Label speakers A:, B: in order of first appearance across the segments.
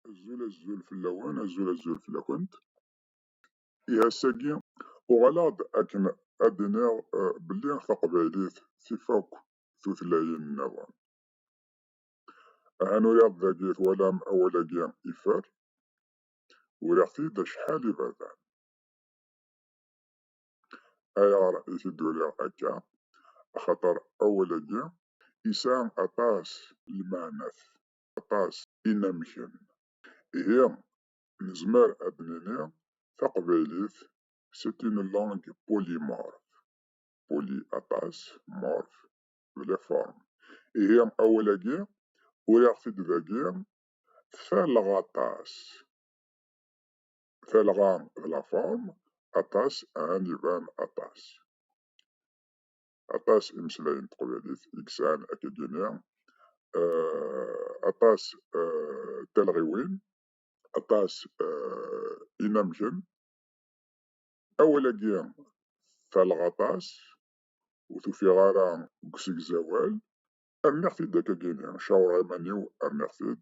A: azul azul fell-awen azul azul fell-akent iɛas-agi uɣaleɣ-d akken ad d-iniɣ eh, belli taqbaylit tif akk tutlayin-nniḍen ahan uriɣ dagi twalam awal-agi ifer uriɣ-t-id acḥal iberdan ayɣer i t-id-uriɣ akka? Axaṭer awal-agi yesɛa aṭas n lmeɛnat, aṭas n yinamken. Ihi, nezmer ad d-nini taqbaylit c'est une langue polymorphe, poly aṭas, morphe d la forme. Ihi, awal-agi uriɣ-t-id dagi, tferleɣ aṭas. talɣa d la forme aṭas ɛan iban aṭas aṭas imeslayen teqbaylit i yesɛan akka gini aṭas talɣiwin aṭas inamgen awal-agi talɣ aṭas ur tufiɣ ara deg usegzawal rniɣ-t-id akka gini cawreɣ iman-iw rniɣ-t-id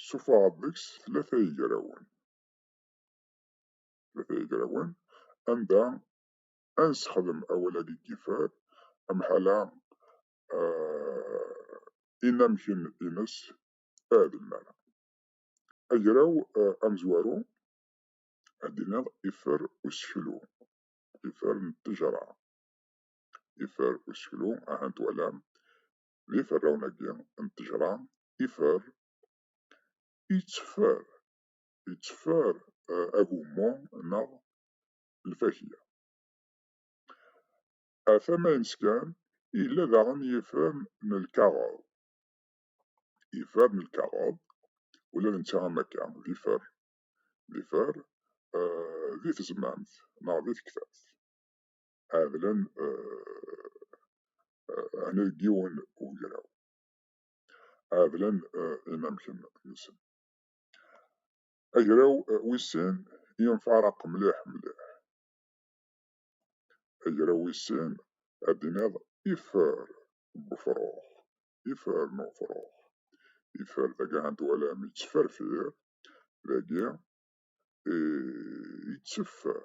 A: Ssufuɣeḍ deg-s tlata yegrawen. Tlata yegrawen anda ad nessexdem awal-agi n yiffer, amḥala inamek-ines adelman. Agraw amezwaru ad d-tiniḍ iffer useklu, iffer n ttejra. Iffer useklu, aha twalam, d iferrawen-agi n ttejra, ifer, itteffer, itteffer eh, agummu neɣ lfakya. Ar tama-ines kan, yella daɣen yifer n lkaɣeḍ. Ifer n lkaɣeḍ, ula d netta am akka, d ifer, d ifer eh, di tezmamt neɣ di tektabt. ɛedlen ɛni deg yiwen ugraw, ɛedlen inamek-nsen. Agraw wis sin yenfeɛraq mliḥ mliḥ, agraw wis sin ad d-tiniḍ ifer n ufrux, ifer n ufrux, ifer dagi ad twalam yettferfir, dagi yetteffer.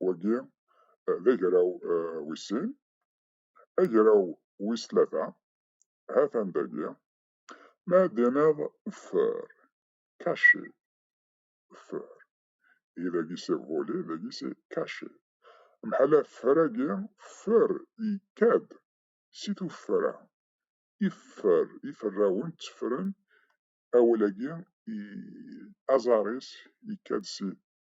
A: wagi d agraw wis sin. Agraw wis tlata ha-t-an dagi. Ma ad d-tiniḍ fer, caché, fer. I dagi c'est volé, dagi c'est caché. Mḥala fer-agi, fer ikka-d si tuffra. Iffer, iferrawen tteffren awal-agi, aẓar-is ikka-d si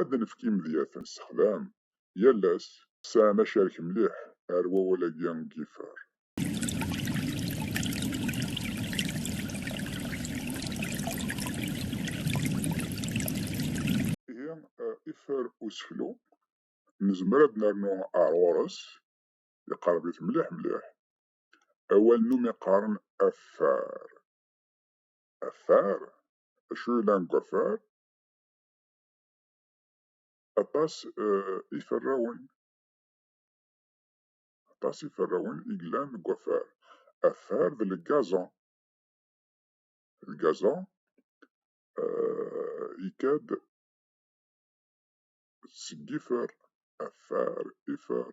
A: ad d-nefk imedyaten s ṭlam yal ass. Sɛan acarek mliḥ ar wawal-agi n Giffard. Ihi iffer useklu, nezmer ad d-nernu ar ɣur-s, iqerreb-it mliḥ mliḥ. Awal n umi qqaren affar. Affar? Acu yellan deg waffar? aṭas iferrawen aṭas iferrawen i yellan deg wafar afar d lgaza lgaza ikad seg ifer afar ifer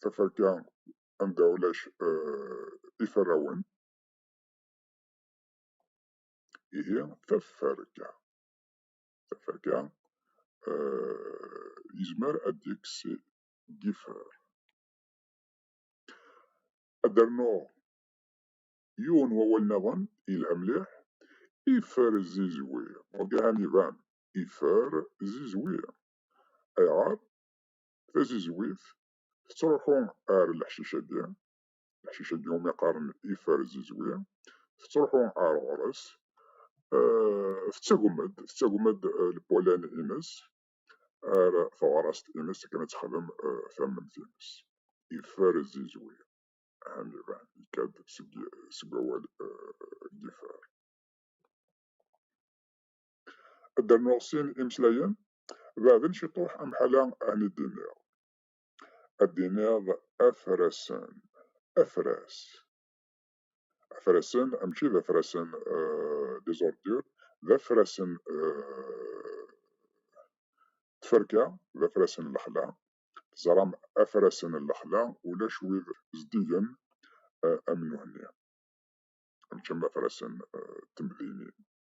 A: taferka anda ulac eh, iferrawen ihi taferka taferka eh, yezmer ad d-yekkes gifer ad d-rnuɣ yiwen wawal niḍen yelha mliḥ ifer zizwi ur d-iban ifer zizwi ayɣer tazizwit tettruḥu ar leḥcic-agi, leḥcic-agi umi qqaren iferzizwi, tettruḥu ar ɣur-s, eh, tettagem-d, tettagem-d eh, lpulan-ines, ar teɣrast-ines akken ad texdem eh, tamemt-ines. Iferzizwi, ahem iban, ikad seg awal gifar. ad d-rnuɣ sin imeslayen, beɛden ciṭuḥ amḥala ɛni d-iniɣ. Ad d-iniɣ afrasen, afras. Afrasen, mačči d afrasen des ordures, d afrasen tferka, d afrasen lexla. Teẓram afrasen n lexla ulac wid zeddigen am nuhenni, mačči am afrasen temdinin.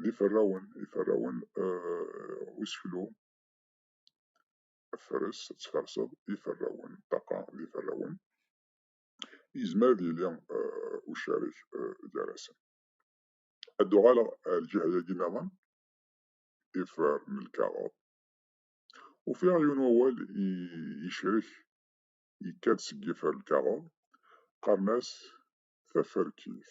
A: d iferrawen, iferrawen uh, useklu, fres, ad tferseḍ, iferrawen, ṭaqa d iferrawen, yezmer ad yili uh, ucarik uh, gar-asen. Ad d-uɣaleɣ ar lǧiha-yagi niḍen, ifer n lkaɣeḍ, ufiɣ yiwen wawal yecrek yekka-d seg yifer lkaɣeḍ, qqaren-as taferkit,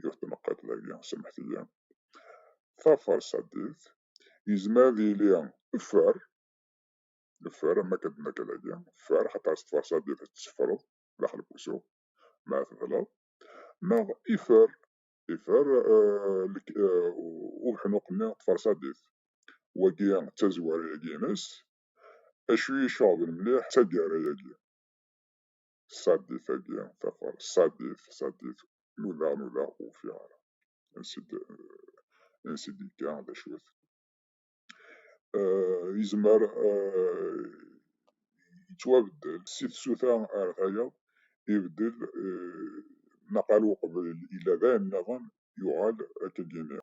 A: yiwet tmeqqit dagi, samḥet-iyi, tafarsadit, yezmer ad yili ffer, ffer am akka d-nekka dagi, ffer xaṭer s tfarsadit tetteffreḍ daxel n wusu, ma tebleḍ, neɣ ifer, ifer ubeḥnuq-nni tfarsadit, wagi d tazwara-agi-ines, acu i iceɣben mliḥ d taggara-agi. ṣṣadif-agi, tafar, ṣṣadif, ṣṣadif, nudaɣ, nudaɣ ur ufiɣ ara ansi d ansi d-yekka d acu-t. Yezmer yettwabeddel si tsuta ar tayeḍ, ibeddel naqal uqbel yella d ayen nniḍen yuɣal akka d-yini.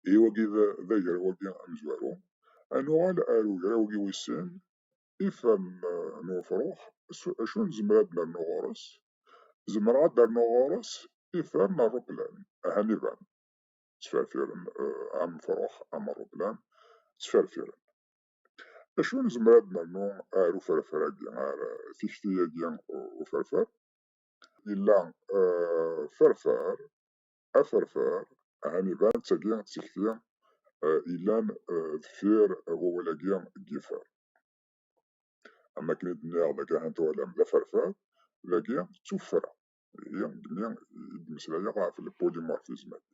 A: Ihi wagi d agraw-agi amezwaru. Ad nuɣal ar ugraw-agi wis sin, ifem n ufrux s acu nezmer ad nernu ɣur-s? Zemreɣ ad d-rnuɣ ɣur-s ifem n ṛṛuplan, ahan iban, ttferfiren am ufrux am ṛṛuplan, ttferfiren. Acu nezmer ad d-nernu ar uferfer-agi, ar tikti-agi uferfer? Yella ferfer aferfar, ɛni iban d tagi tikti yellan deffir wawal-agi n yifer. Am wakken i d-nniɣ dagi ahat twalam d aferfar, dagi d tuffra, ihi deg mi i d-mmeslayeɣ ɣef l-polymorphisme-agi.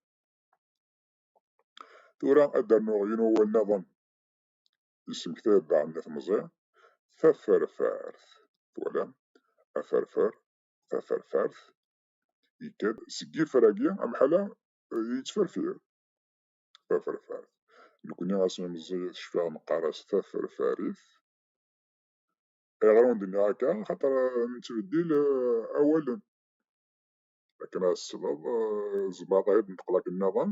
A: Tura ad d-rnuɣ yiwen wawal-nniḍen yesmektay-d daɣen Nni Temẓi, taferfart. Twalam? Aferfar, taferfart, yekker seg yifragi amḥala yettferfir taferfart nekni asmi meẓẓiyet cfiɣ neqqar-as taferfarit ayɣer ur d-nniɣ akka xaṭer nettbeddil awalen akken ad tesleḍ zbaṭ ay d-neṭqel akken nniḍen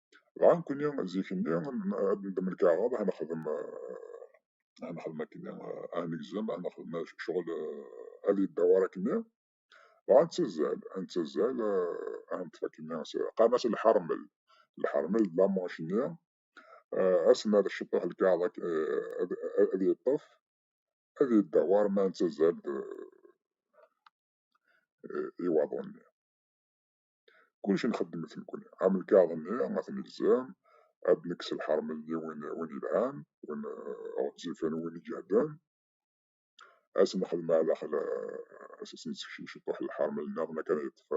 A: Dɣa nekkni zik-nni ad nendem lkaɣeḍ, ad nexdem ad nexdem akken ad negzem, ad nexdem ccɣel ad yeddawar akken-nni. Dɣa ad nettazzal, ad nettazzal ad neṭṭef akken-nni qqaren-as lḥermel. Lḥermel d lamanc-nni ass n ad ceṭṭeḥ lkaɣeḍ ad yeṭṭef ad yeddawar ma nettazzal i waḍu-nni. Kullec nxeddem-t nekkni. Am lkaɣeḍ-nni, ad t-nelzem, ad d-nekkes lḥermeyyi win yelhan, win ɣezzifen, win iǧehden, ad s-nexdem aɛdaxel, ad s-nessekcem ciṭuḥ n lḥermel-nniḍen akken ad yeṭṭef,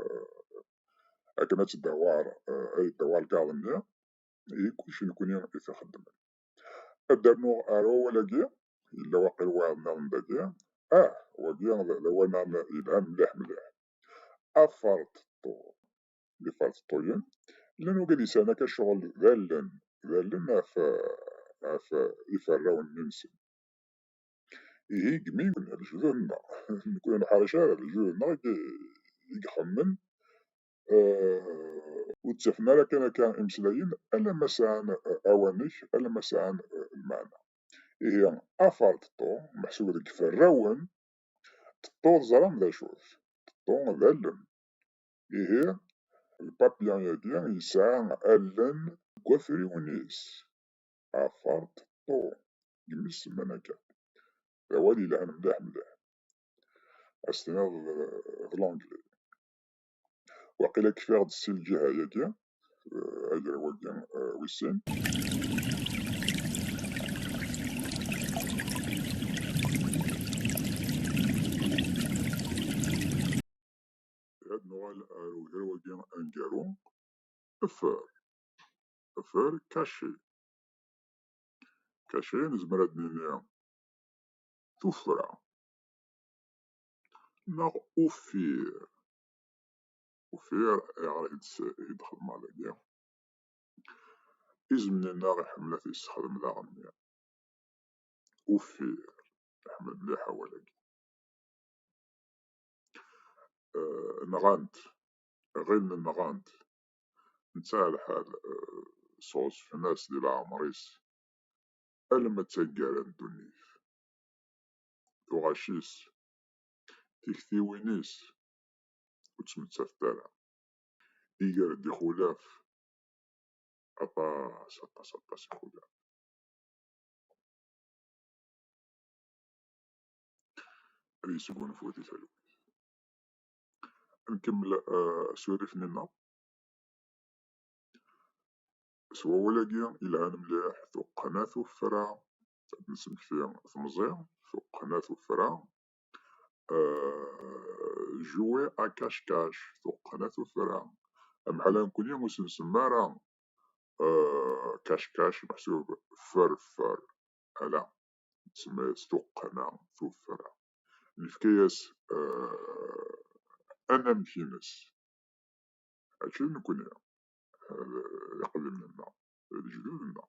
A: akken ad tdawar, ad yeddawar lkaɣeḍ-nni. Ihi kullec nekkni i t-ixeddmen. Ad d-rnuɣ ar wawal-agi, yella waqil wayeḍ-nniḍen dagi. Ah! Wagi d awal-nniḍen yelhan mliḥ mliḥ. Aferṭeṭṭu. D iferṭeṭṭuyen. Llan wagadisan akka ccɣel d allen, d allen ɣef ɣef iferrawen-nsen. Ihi deg mi lejdud-nneɣ, nekk ur neḥṛic ara, lejdud-nneɣ i ixemmen, ur ttafen ara kan akka imeslayen alamma sɛan awanek, alamma sɛan lmeɛna. Ihi aferṭeṭṭu meḥsub deg iferrawen Ṭeṭṭu teẓram d acu-t? Ṭeṭṭu d allen. Ihi, lpapyun-agi yesɛa allen deg wafriwen-is. Afar ṭeṭṭu, deg imi s-semman akka. D awal yelhan mliḥ mliḥ. Ad s-tiniḍ d Langli. waqila kfiɣ-d si lǧiha-yagi agraw-agi wis sin ad nuɣal ar ugraw-agi aneggaru effer effer kaci kaci nezmer ad nini tuffra neɣ uffir. Uffir ayɣer i d-xedmeɣ dagi? Izem-nneɣ iḥemmel ad t-yessexdem d aɣenni. Uffir, iḥemmel mliḥ awal-agi. Nɣant, ɣilen nɣant, netta lḥal sɣezfen-as di leɛmer-is alma d taggara n ddunit. tuɣac-is, tiktiwin-is ur ttmettatent ara. Iger-d ixulaf, aṭas, aṭas, aṭas ixulaf. Ad yesgunfu di talwit. Nkemmel eh, asurif-nni-nneɣ. S wawal-agi yelhan mliḥ, tuqqna tuffra ad d-nesmekti temẓi tuqqna tuffra juwe akackac tuqqna tuffra amḥala nekkni ur s-nsemmi ara kackac meḥsub ferfer ala nsemma-yas tuqqna tuffra nefka-yas anamek-ines mačči d nekkni d iqdimen-nneɣ d lejdud-nneɣ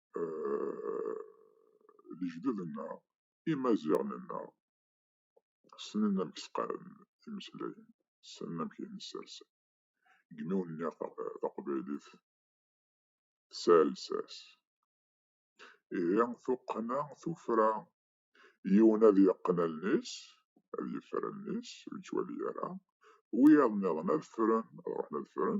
A: euh, lejdud-nneɣ, imaziɣen-nneɣ, ssnen amek sqaren imeslayen, ssnen amek i ten-ssersen. Deg yimawen-nni taqbaylit tesɛa lsas. Ihi tuqqna tufra, yiwen ad yeqqen allen-is, ad yeffer allen-is, ur yettwali ara, wiyaḍ-nniḍen ad ffren, ad ruḥen ad ffren,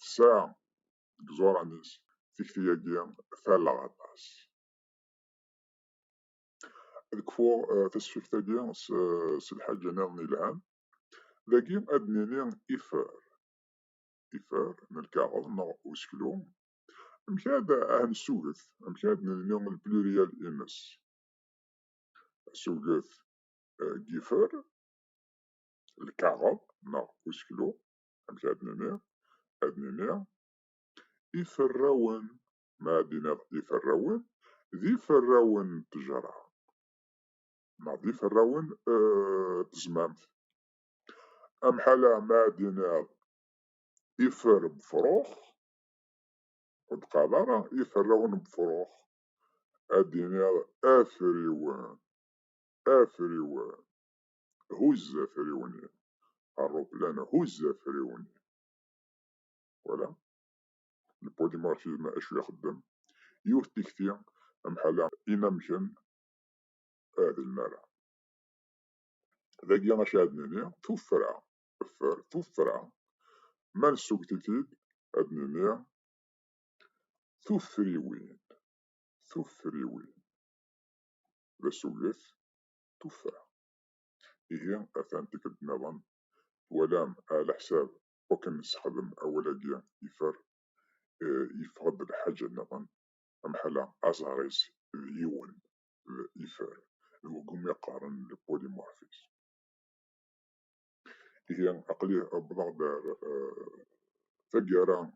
A: tesɛa deg iẓuran-is tikti-agi talleɣ aṭas. Ad kfuɣ eh, tasfift-agi s lḥaǧa-nniḍen yelhan. Dagi ad nini ifer, ifer n lkaɣeḍ neɣ useklu. Amek ad nessuget, amek ad nelni lplurial ines. Asuget eh, gifer, lkaɣeḍ neɣ useklu, amek ara d-nini, ad nini iferrawen, ma ad d-tiniḍ iferrawen, d iferrawen n ttejra neɣ d iferrawen n eh, tezmamt. Amḥala ma ad d-tiniḍ ifer n befṛux, ur d-qqareḍ ara iferrawen n befṛux, ad d-tiniḍ afriwen, afriwen. huzz afriwen-i, aṛṛuplan huzz afriwen-i. Twala? Yewwi-d Marxisme acu ixeddem? Yiwet n tikti am ḥala inamken ah d lmara. Dagi acu ad nini? Tuffra, ffer, tuffra, ma nessugget-it-id ad nini tuffriwin, tuffriwin. D asugget tuffra. Ihi atan tikkelt nniḍen twalam ɛlaḥsab wakken nessexdem awal-agi ifer, yeffeɣ-d lḥaǧa nniḍen, amḥala aẓar-is d yiwen d ifer, d wegumi qqaren le polymorphisme. Ihi aql-i wwḍeɣ-d ar taggara n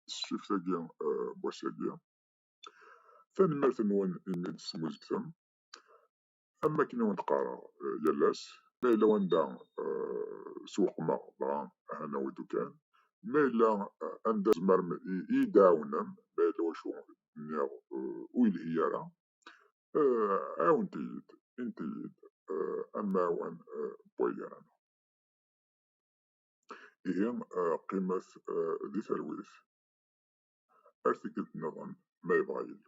A: tesfift-agi n wass-agi. Tanemmirt-nwen imi i d-tesmuzgetem. Am wakken i wen-d-qqareɣ yal ass, ma yella wanda sewqmeɣ dɣa ahanew-id ukan, ma yella anda tzemrem i yi-d-tɛawnem, ma yella wacu d-nniɣ ur yelhi ara, ɛiwnet-iyi-d, init-iyi-d amɛiwen n waya neɣ ala. Ihi qqimet di talwit. ar tikkelt nniḍen ma yebɣa Yillu.